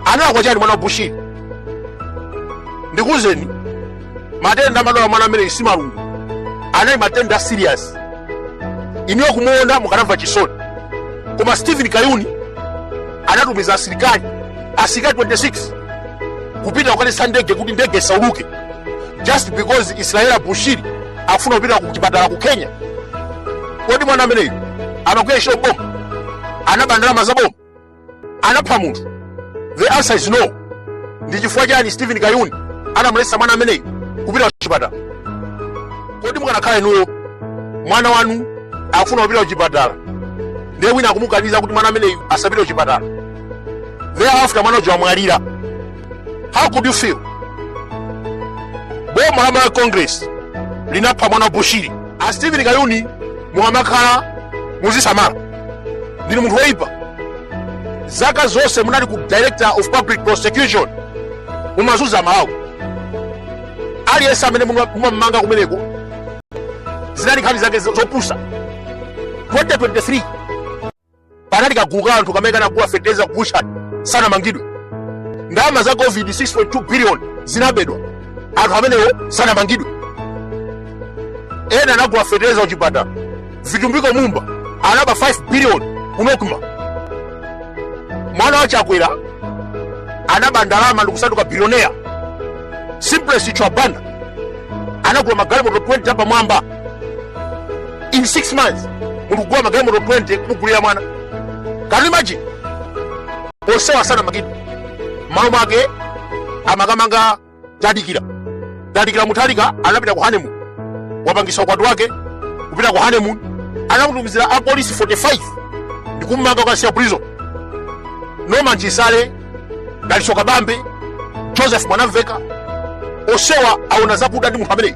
analakwa chani mwana wa bushiri ndikuwuzeni matenda amadwala mwana ameneyi si malungu anali matenda serious inuyo kumuona mukanamva chisoni koma stephen kayuni anatumiza asilikali asilikali 26 kupita kukaletsa ndege kuti ndege isauluke just because israella bushiri akufuna kupita ku chipatala ku kenya kodi mwana ameneyu amagwira ntchito m'boma anaba ndalama za boma anapha munthu the answer is no ndi chifukwa chani stephen kayuni anamulesa mwana ameneyi kupita kuchipatala kodi mukanakhala inuyo mwana wanu akufuna kupita kuchipatala ndiye wina akumukaniza kuti mwana ameneyu asapite kuchipatala thereafter mwana uja wamwalira how could you feel boma la malawi congress linapha mwana wa bushiri a Steven Kayuni mukamakhala muzisamala ndinu munthu woyipa zaka zonse munali ku director of public prosecution mumazunza amalawi aliyense amene muma- mumamanga kumeneko zinali nkhani zake zo- zopusa 2023 panali kagulu ka anthu kamene kanagula fetereza ku butchery sanamangidwe ndalama za covid 6.2 billion zinabedwa anthu amenewo sanamangidwe ena anagula fetereza kuchipatala vitumbiko mumba anaba 5 billion ku nocma mwana wa chakwera anaba ndalama ndikusanduka bilionea simplex chithyola banda anagula magalimoto 20 apamwamba in 6 months mulikugula magalimoto 20 kumugulira mwana can you imagine onsewa sanamangidwe mmalo mwake amakamanga tadikira tadikira mutharika anapita ku honeymoon wapangisa ukwati wake kupita ku honeymoon anamutumizira apolisi 45 ndikummanga kukamsiya prison norman chisale dalitso kabambe joseph mwanamveka onsewa aona zakuda ndi munthu ameneyu